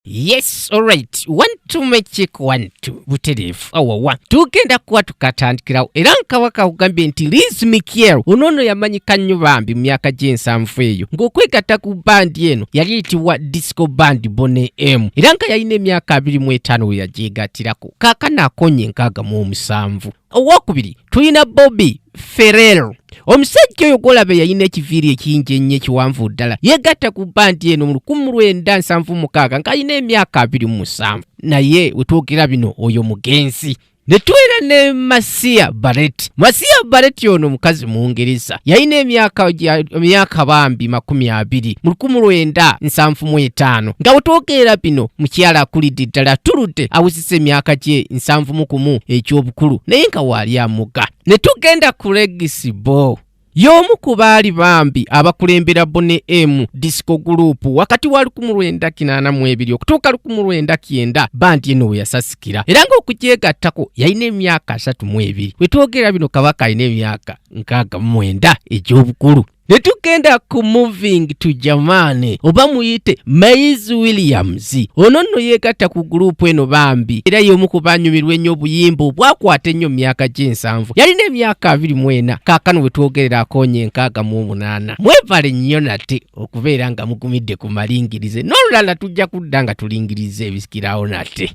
yes alright one to magic one to butereevu awawa tugenda kuba tukatandikirawo era nkawaka kugambye nti liz mikiel ono ono yamanyika nnyo bambi mu myaka gy'ensanvu eyo ng'okwegatta ku bandi eno yali eyitibwa disco band bone m era nga yalina emyaka abiri mu etaano we yagyegattirako kaakano akonye enkaaga mu omusanvu owokubiri tulina bobi ferel omusajja oyo gwolaba yalina ekiviiri ekingi ennyo ekiwanvu ddala yegatta ku bandi eno mu lukumu lwenda nsanvu mukaaga ng'alina emyaka abiri mu musanvu naye wetwogera bino oyo mugenzi ne tubeera ne masiya bareti masiya bareti ono mukazi mungereza yalina emyaka bambi makumi abiri mu lukumu lwenda nsanvu mu etaano nga wetwogeera bino mukyala akulidde ddala atuludde awuzi si emyaka kye nsanvu mu kumu eky'obukulu naye nga waali amuga ne tugenda ku legisi bo y'omu ku baali bambi abakulembera bone emu disco guluupu wakati wa 1982 okutuuka 1990 bandi eno we yasasikira era ng'okugyegattako yalina emyaka 32 we twogera bino kabaka alina emyaka 69 egy'obukulu ne tugenda ku moving to jamani oba muyite maiz williams ono nno yeegatta ku guruupu eno bambi era y'omu ku banyumirwa ennyo obuyimba obwakwata ennyo mu myaka gy'ensanvu yalina emyaka abiri mu ena kaakano bwe twogerera akoonye enkaaga mu omunaana mwebale nnyo nate okubeera nga mugumidde ku malingirize n'olulala tujja kudda nga tulingiriza ebisikirawo nate